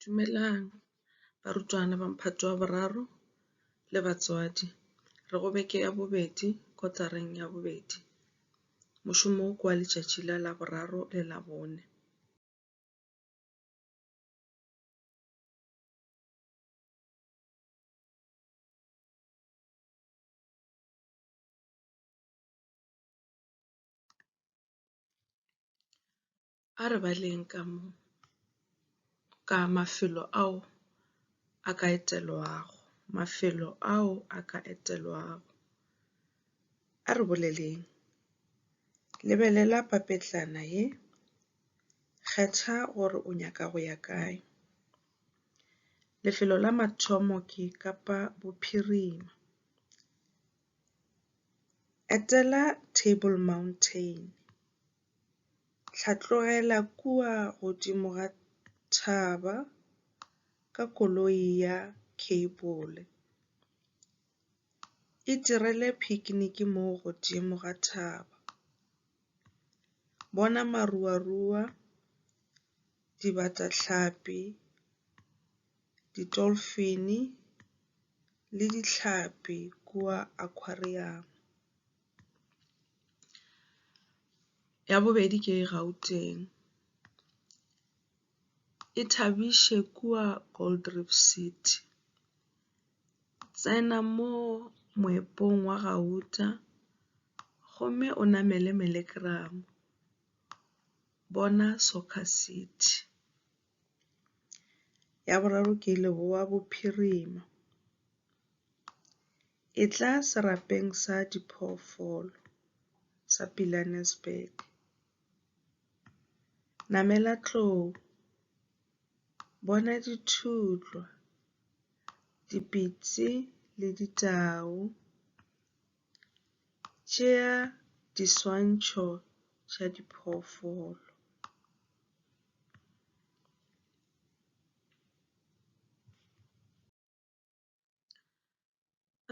Dumelang barutwana ba Mphato wa Boraro le batswadi. Re go beke ya bobedi kotareng ya bobedi. Mošomo wo ke wa letšatši la Laboraro le Labone. A re baleng ka mo ka mafelo ao a ka etelwago, mafelo ao a ka etelwago. A re boleleng, Lebelela papetlana ye. Kgetha gore o nyaka go ya kae. Lefelo la mathomo ke Kapa Bophirima. Etela Table Mountain. Tla tlogela kua godimo ga thaba ka koloi ya kheibole. Itirele phikiniki mo godimo ga thaba. Bona maruarua, dibatahlapi, ditolfene le dihlapi kua akhwariamo. Ya bobedi ke Gauteng, e thabiše kua Gold Reef City. Tsena mo moepong wa gauta gomme o namele Melegram, bona Soccer City. Ya boraro ke Leboa Bophirima. Etla serapeng sa diphoofolo sa Pilanesberg. Namela tlou, bona dithutlwa, dipitsi le ditau. Tšea diswantšho tša diphoofolo.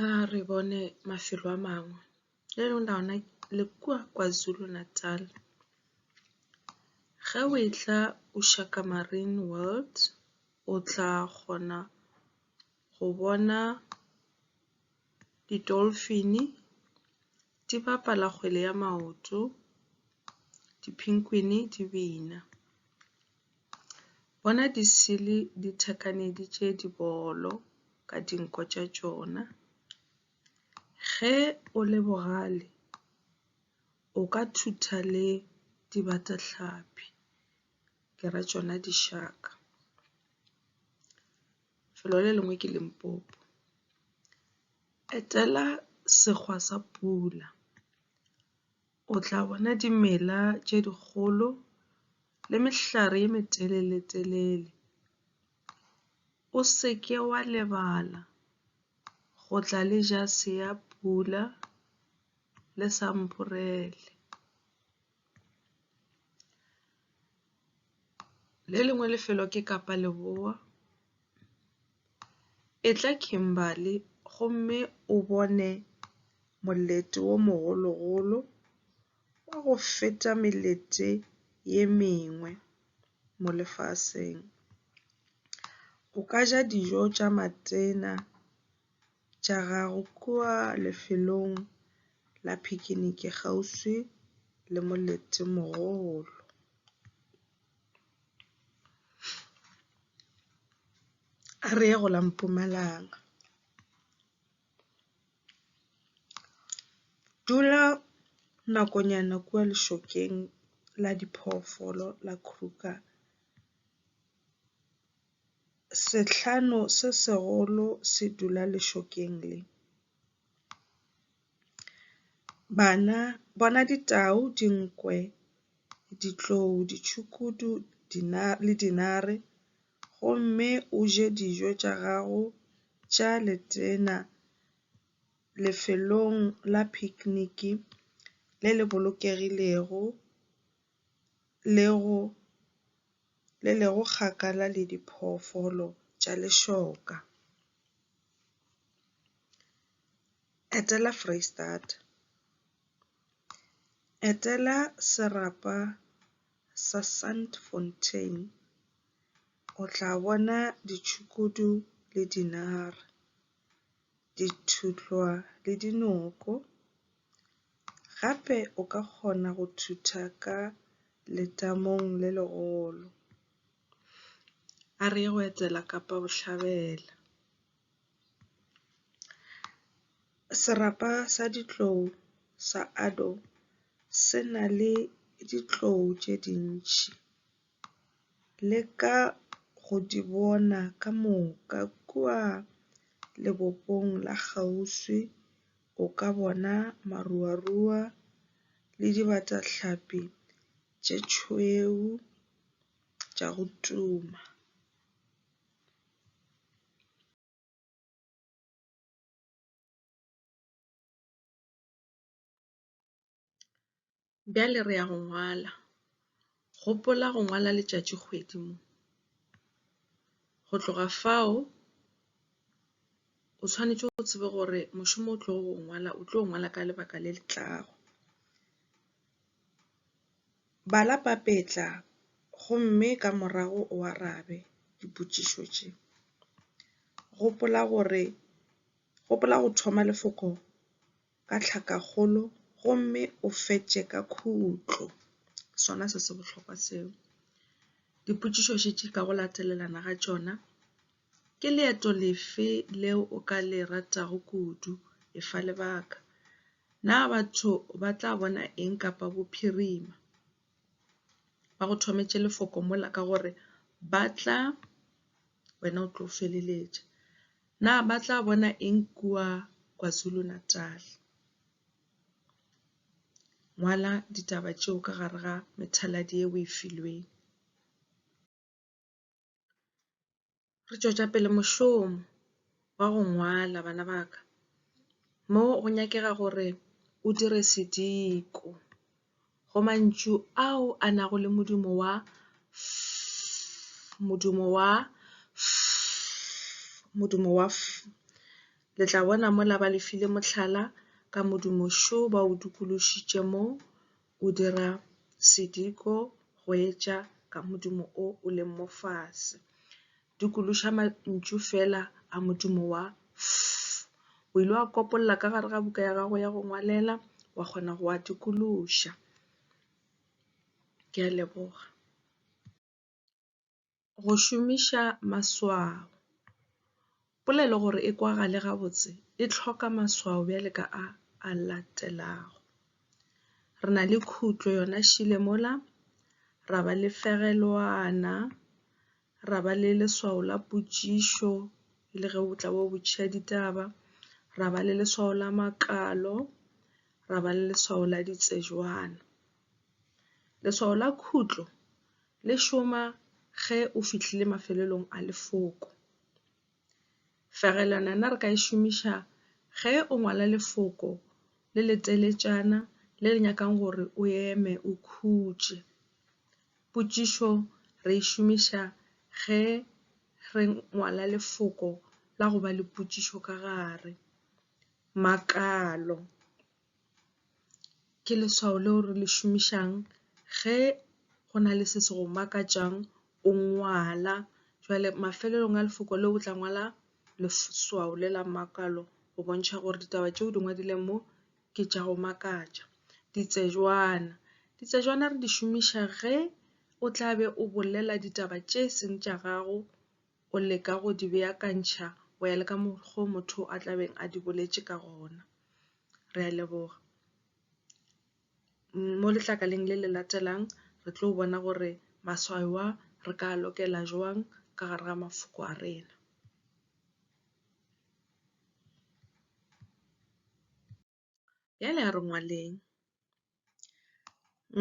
A re bone mafelo a mangwe le lona ona le kua KwaZulu-Natal. Ge o e tla Ushaka Marine World o tla kgona go bona. di-dolphin-e di bapala kgwele ya maoto, di-penguin-e di bina. Bona di-seal-e di thekaneditše dibolo ka dinko tša tšona. Ge o le bogale o ka thutha le dibatahlapi ke ra tšona di-shark. Lefelo le lengwe ke Limpopo. Etela segwa sa pula. O tla bona dimela tše dikgolo le mehlare ye metelele-telele. O se ke wa lebala go tla le jase ya pula le sampurele. Le lengwe lefelo ke Kapa Leboa. Etla Kimberly gomme o bone molete wo mogologolo wa go feta melete ye mengwe mo lefaseng. O ka ja dijo tša Matena. tša gago kua lefelong la phikiniki kgauswi le molete-mogolo. A re ye go la Mpumalanga. Dula nakonyana kua lešokeng la diphoofolo la Kruger. Sehlano se segolo se dula lešokeng le. Bana, bona ditau, dinkwe, ditlou, ditšhukudu le dinare, gomme o je dijo tša gago tša letena lefelong la phikiniki le le bolokegilego le go le lego kgakala le diphoofolo tša lešoka. Etela Foreisetata. Etela serapa sa Sandfontein, o tla bona ditšhukudu le dinare, dithutlwa le dinoko. Gape o ka kgona go thutha ka letamong le legolo. A re ye go etela Kapa Bohlabela. Serapa sa ditlou sa Addo se na le ditlou tše dintši. Leka go di bona ka moka kua lebopong la kgauswi. O ka bona maruarua le dibatahlapi tše tšhweu tša go tuma. Bjale re ya go ngwala. Gopola go ngwala letšatšikgwedi mo. Go tloga fao o swanetše go tseba gore mošomo o tlogo o ngwala o tlo ngwala ka lebaka le le tlago. Bala papetla gomme ka morago o arabe dipotšišo tše. Gopola gore, gopola go thoma lefoko. ka tlhakakgolo gomme o fetše ka khutlo. Sona se se bohlokwa seo. Dipotšišo še tše ka go latelelana ga tšona, ke leeto lefe leo o ka le ratago kudu? E fa lebaka. Na batho ba tla bona eng kapa bophirima? Ba go thometše lefoko mola ka gore ba tla, wena o tlo feleletša. Na ba tla bona eng kua KwaZulu-Natal? Ngwala ditaba tšeo ka gare ga methaladi ye o e filweng. Re tšwetša pele mošomo wa go ngwala bana ba ka mo go nyakega gore o dire sediko. go mantšu ao a nago le modumo wa f, modumo wa f, modumo wa f. Le tla bona mola ba le file mohlala ka modumo šo ba o dikološitše mo o dira sediko go etša ka modumo o o leng mo fase. dikološa mantšu fela a modumo wa fff. O ile wa kopolla ka gare ga buka ya gago ya go ngwalela, wa kgona go a dikološa. Ke a leboga. Go šomiša maswao. Polelo gore e kwagale gabotse e tlhoka maswao bjale ka a a latelago. Re na le khutlo yona šile mola, ra ba le fegelwana, ra ba le leswao la potšišo e le ge o tla bo botšiša ditaba, ra ba le leswao la makalo, ra ba le leswao la ditsejwana. Leswao la khutlo le šoma ge o fihlile mafelelong a lefoko. Fegelwana yona re ka e šomiša ge o ngwala lefoko le le teletšana le le nyakang gore o eme o khutše. Potšišo re e šomiša ge re ngwala lefoko la go ba le potšišo ka gare. Makalo. Ke leswao leo re le šomišang ge go na le se se go makatšang o ngwala jwale mafelelong a lefoko leo o tla ngwala leswao le la makalo go bontšha gore ditaba tše o di ngwadileng mo ke tša go makatša. Ditsebjwana, ditsebjwana re di šomiša ge o tla be o bolela ditaba tše seng tša gago o leka go di beakantšha go ya le ka mokgwa o motho a tlabeng a di boletše ka gona. Re a leboga. Mo letlakaleng le le latelang re tlo bona gore maswao a re ka a lokela jwang ka gare ga mafoko a rena. Bjale a re ngwaleng.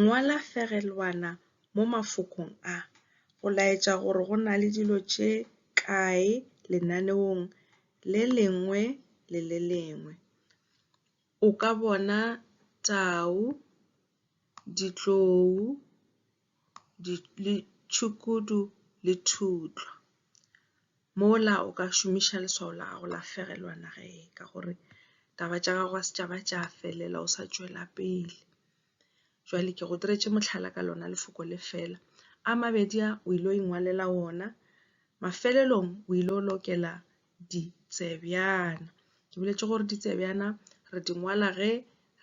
Ngwala fegelwana mo mafokong a go laetša gore go na le dilo tše kae lenaneong le lengwe le le lengwe. O ka bona tau, ditlou, le tšhukudu le thutlwa. Mola o ka šomiša leswao la gago la fegelwa naga e ka gore taba tša gago ga se tša ba tša felela o sa tšwela pele. Jwale ke go diretše mohlala ka lona lefoko le fela. A mabedi a o ile go ingwalela ona, mafelelong o ile go lokela ditsebjana. Ke boletše gore ditsebjana re di ngwala ge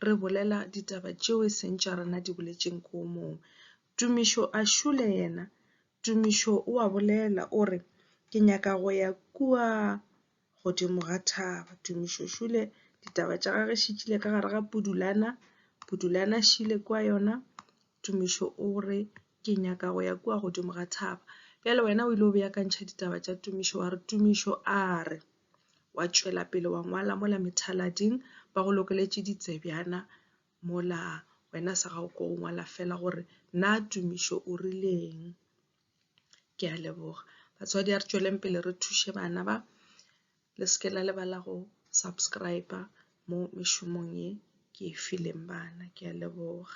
re bolela ditaba tšeo e seng tša rena di boletšeng ko mongwe. Tumišo a šule yena. Tumišo o a bolela o re ke nyaka go ya kua godimo ga thaba. Tumišo šule ditaba tša gagwe šitšile ka gare ga Pudulana, Pudulana šile kua yona. Tumišo o re, Ke nyaka go ya kua godimo ga thaba. Bjale wena o ile o beakantšha ditaba tša Tumišo wa re, Tumišo a re, wa tšwela pele wa ngwala mola methalading, ba go lokeletše ditsebjana mola wena sa gago ko o ngwala fela gore na Tumišo o rileng. Ke a leboga. Batswadi a re tšweleng pele re thuše bana ba le seke la lebala go subscriber mo mešomong ye ke e fileng bana ke a leboga